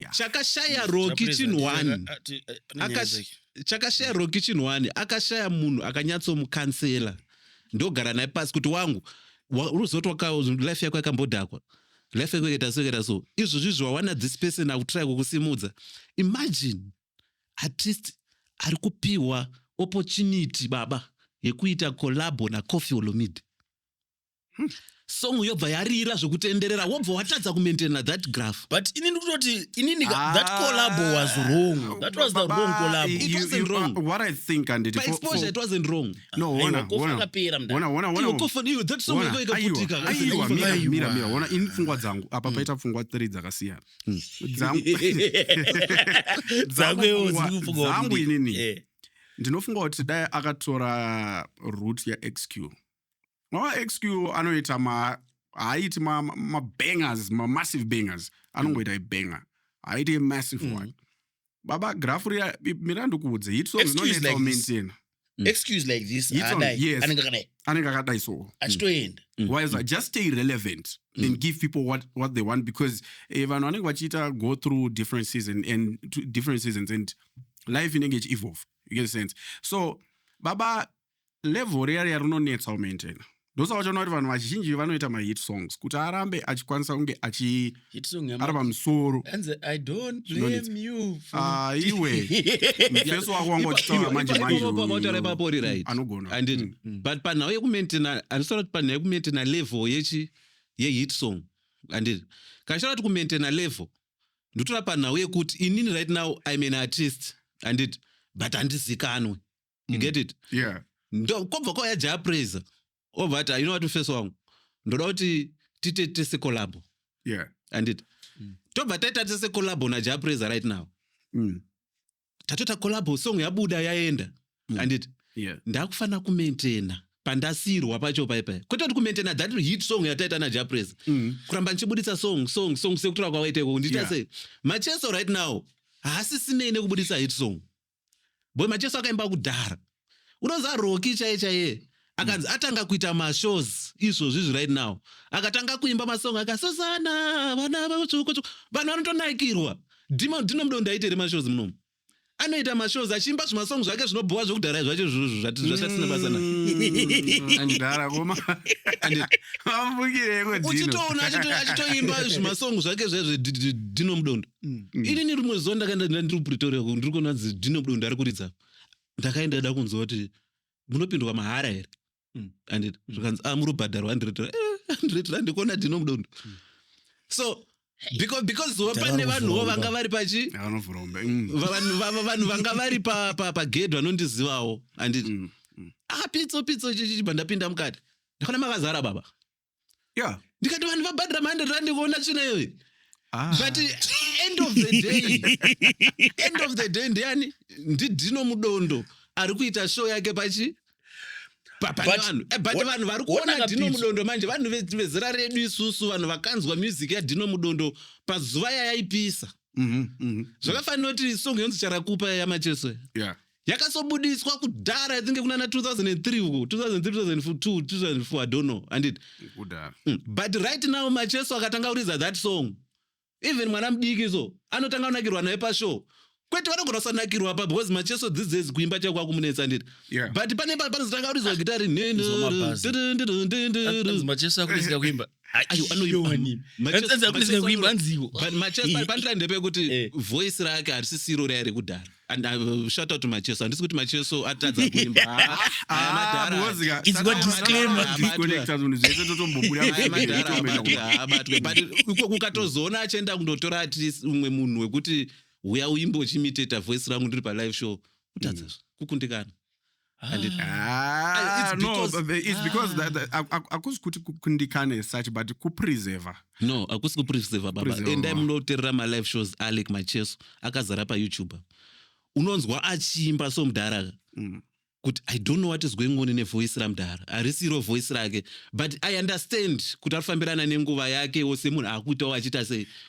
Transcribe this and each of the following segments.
Yeah. chakashaya roki chinhu wani Akash- chakashaya roki chinhu wani akashaya munhu akanyatsomukansela ndogara naye pasi kuti wangu wa- unozoti waka- life yako yakambodhakwa life yako yakaita so yakaita so izvozvi zvawana this person akutry kukusimudza imagine at least ari kupiwa opportunity baba yekuita collabo nacofi olomide hmm. song yobva yarira zvekutenderera wobva watadza kumaintaina that graph but ini ndikutoti inini ah, that collabo was wrong that was the wrong collabo you, it wasn't you, wrong what i think and it, exposure for, it wasn't wrong no wona wona wona wona wona iwo kofoni iwo that song yako ikaputika aiwa mira mira mira wona in pfungwa dzangu apa hmm. paita pfungwa three dzakasiyana hmm. dzangu dzangu dzangu inini eh. ndinofunga kuti dai akatora root ya xq mavaxq anoita ma haaiti mabangers ma mamassive bangers anongoita ibanger haaiti massive mm. one baba grafu riya mira ndikuudze hitsonginonetsaomaintaina mm. excuse like this anenge akadai so mm. achitoenda mm. wise mm. just stay relevant mm. and give people what, what they want because eh, vanhu vanenge vachiita go through different season and different seasons and life inenge ichievolve you get sense so baba level riya riya rinonetsa umaintaina ndosaka uchaona kuti vanhu vazhinji vanoita mahit songs kuti arambe achikwanisa kunge achi Hit song ari yama- pamusoro Hanzi, I don't Zvinonetsa. blame you for- Ah, iwe mufeso wako wanga uchitaura manje Ipapo manje ipapo vataura uyu ipapo uri right. anogona Handiti? Mm. but panhau yekumaintaina handisola kuti panhau yekumaintaina level yechi yehit song handiti kandisola kuti kumaintaina level ndotora panhau yekuti inini right now im an artist handiti but handizikanwe you get it yeah ndo kwobva kwauya jaya praiser obva ati "Ah, you know what mfeso wangu ndoda kuti tiite tese collabo yeah andit tobva taita tese collabo najaya praiser right now mm. tatoita collabo song yabuda yaenda andit yeah ndakufanira kumaintaina pandasirwa pacho paipai kwete kuti kumaintaina that hit song yataita najaya praiser Mm. kuramba ndichibuditsa song song song sekutora kwawaita ikoko ndiita Yeah. sei macheso right now haasisinei nekubuditsa hit song boy macheso akaimba kudhara unoziva roki chaiye chaiye akanzi atanga kuita mashows izvozvi izvi right now akatanga kuimba masong aka sosana vana vatsvuku tsvuku vanhu vanotonakirwa dima dino mudo ndaitere mashows munomu anoita mashows achiimba zvimasong zvake zvinobhowa zvekudhara zvacho izvozvo zvati zvasina basa na andidhara koma Andi- vamubukireko uchitoona achito- achitoimba zvimasong zvake zvezvedino mudondo Mm. inini rimwe zuva ndakaenda ndanga ndiri kupretoria uko, ndiri kuona zi- dino budo ndari kuridza ndakaenda da kunzwa kuti munopindwa mahara here Mm. anditi zvikanzi ah muri kubhadharwa andiretera andiretera ndikuona dino budo so because because wa Tava pane vanhuwo kuvhurwa. vanga vari pachi Vanovhura umbe. Mm. va- vanhu va- va- vanhu vanga vari pa- pa- pagedhi vanondizivawo anditi Mm. ah pitso pitso chichichi pandapinda mukati ndakaona makazara baba yeah ndikati vanhu vabhadhira ma100 rand kuona tsvina iyoyi ah. but eh, end of the day end of the day ndiani ndidino mudondo ari kuita show yake pachi papanevanhu eh, but vanhu vari kuona dino mudondo manje vanhu vezera redu isusu vanhu vakanzwa music yadino mudondo pazuva yayaipisa mhm, mhm. zvakafanira kuti song yonzi charakupa yamacheso yeah. yakasobudiswa kudhara i think kunana 2003 uko 2003 2002 2004 i don't know andit kudhara mm. but right now macheso akatanga kuriza that song even mwana mudiki so anotanga kunakirwa naye pashow kwete vanogona kusanakirwa pa because macheso these days kuimba chako kwakumunetsa anditi yeah. but pane panozotanga kurizwa gitari nhenhemacheso akurizika kuimba ayo anoiwani kuimba nziwo pandira ndepekuti eh. voice rake harisisiro raive rekudhara and I uh, shout out to Macheso handisi kuti Macheso atadza kuimba iko kukatozoona achienda kundotora ati umwe munhu wekuti huya uimbe uchimiteta voice rangu ndiri palive show kutadza mm. kukundikana And it- Ah, It's no, because- but the- it's because that- that- aku- aku- akusi kuti kukundikane such but kupreserver no akusi kupreserva baba Preserver. endai munoterera malive shows alec macheso akazara payoutube unonzwa achiimba so mudhara Mm. kuti i don't know what is going on nevoice ramudhara harisiro voice rake but i understand kuti arifambirana nenguva yakewo semunhu akuitawo achiita sei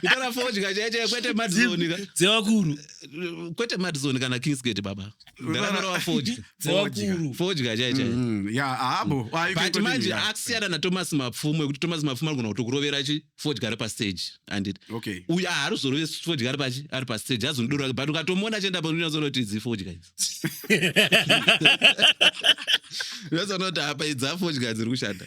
kutaura fodya chaichai kwete madzoni ka dzevakuru kwete madzoni kana kingsgate baba ndakanorova fodya dzevakuru fodya chaichai Mm, yeah, haabo. Ah, you can but continue, manje yeah. akusiyana nathomas mapfumo ekuti thomas mapfumo anogona kutokurovera chi fodya ari pasteji anditi Okay. uyu haaruzorove fodya ari pachi ari pasteji azonidoro rake but ukatomuona achienda paunyazoona kuti idzi fodya idzi unazoona kuti apa idzi afodya dziri kushanda